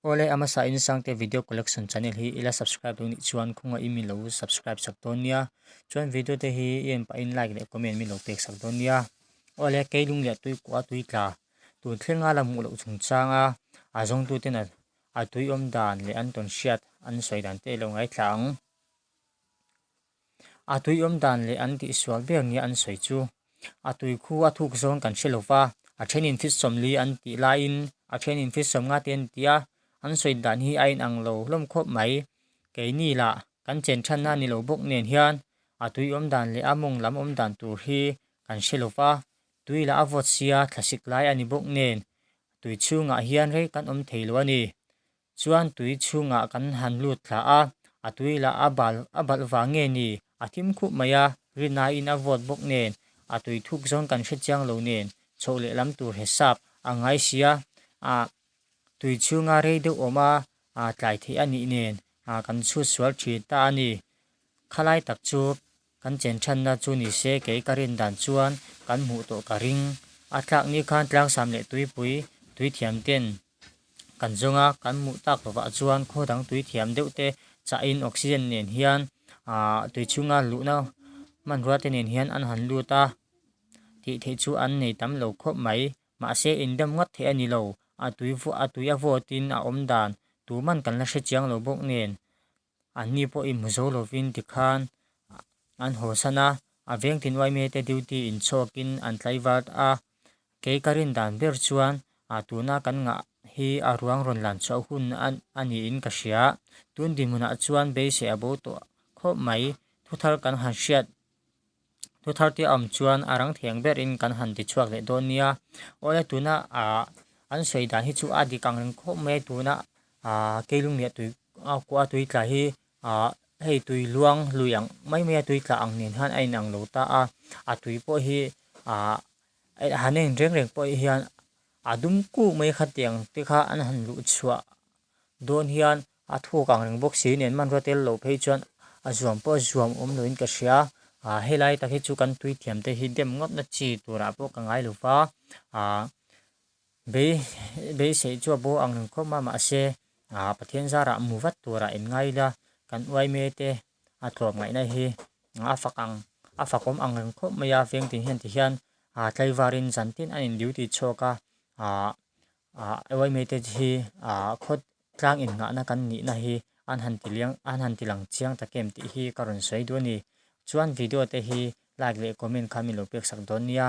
Awle a hmasa in sang te video collection channel hi ila subscribe duh nih chuan khunga i milo subscribe chak dawn nia chuan video te hi i en pah in like leh comment milo pek sak dawn nia awle kei lung leh tui kuah tui tla tun thleng a la hmuh loh chung chang a a zawng tu ten a a tui awm dan leh an tawn hriat an sawi dan te ilo ngai thla ang. A tuiawm dan leh an tihsual ber nia an sawi chu. A tui khu a thuk zawn kan hre lova, a thenin Fitsawmli an tih laiin a thenin Fitsawmnga te an tia, an sawi dan hi a inang lo hlawm khawp mai. Keini lah, kan chen than nan ni lo bawk nen hian a tuiawm dan leh a mawng lam awm dan tur hi kan hre lova, tui lah a vote sia thlasik lai a ni bawk nen tui chhungah hian rei kan awm thei lo a ni. Chuan tui chhungah kan han lut thla a, a tui lah a bal a balh vang nge ni? A thim khup mai a, Rinaiin a vote bawk nen, a tui thuk zawn kan hre chiang lo nen, chhoh lehlam tur hesap a ngai sia, ah tui chhunga rei deuh awm a tlai theih a nih nen kan chhut sual thin ta a ni, khalai tak chu Kan chen chhanna chu ni se kei ka rin dan chuan kan hmuh tawh ka ring. A tlak ni khan Tlangsam leh Tuipui tui thiam ten kan zawng a, kan hmuh tak lo vah chuan khaw dang tui thiam deuh te chah in oxygen nen hian aah tui chhunga luhna hmanrua te nen hian an han lut a, tih theih chu an nei tam lo khawp mai. Mahse in dam ngat theih a ni lo, a tui a vawt in a awm dan tuman kan la hre chiang lo bawk nen Anni pawh i hmu zo lovin ti khan an haw san a, a veng tinhuai mi te duty in chhuakin an tlaivart a, kei ka rin dan ber chuan tuna kan ngah hi a ruang rawn lan chhuah hun a niin ka hria, tun dinhmunah chuan beisei a bo tawh khawp mai, thuthar kan han hriat Thu thartia awm chuan a rang theng berin kan han ti chhuak leh dawn nia. Aw le tuna an sawi dan hi chu a dik ang reng khawp mai a, tuna kei lung leh tui kuaha tui tla hi hei tui luang lui ang mai mai a tui tla ang nen hian a in ang lo ta a, a tui pawh hi han a in reng reng pawh hian a dum kuk mai kha tiang te kha an han luh chhuah dawn hian. A thuk ang reng bawk si, nen man ruat tel loh phei chuan a zuam pawh zuam awm loin ka hria. Aaa helai tak hi chu kan tuithiam te hi dem ngawtna chi turah pawh ka ngai lo va, aa bei beisei chu a bo ang reng khawp a, mahse aa Pathian zarah mu vat turah in ngai ila kan uai me te a tlawp ngaihna hi a fak ang a fakawm ang reng khawp mai a, veng tin hian tihian aa tlaivarin zan tin an induty chhuak a, aa Ruaimeite hi khawt tlang innghahna kan nihna hi an han tiliang an han tilang chiang tak em tih hi ka rawn sawi duai a ni. Chuan video te hi like leh comment khan min lo peksak dawn nia.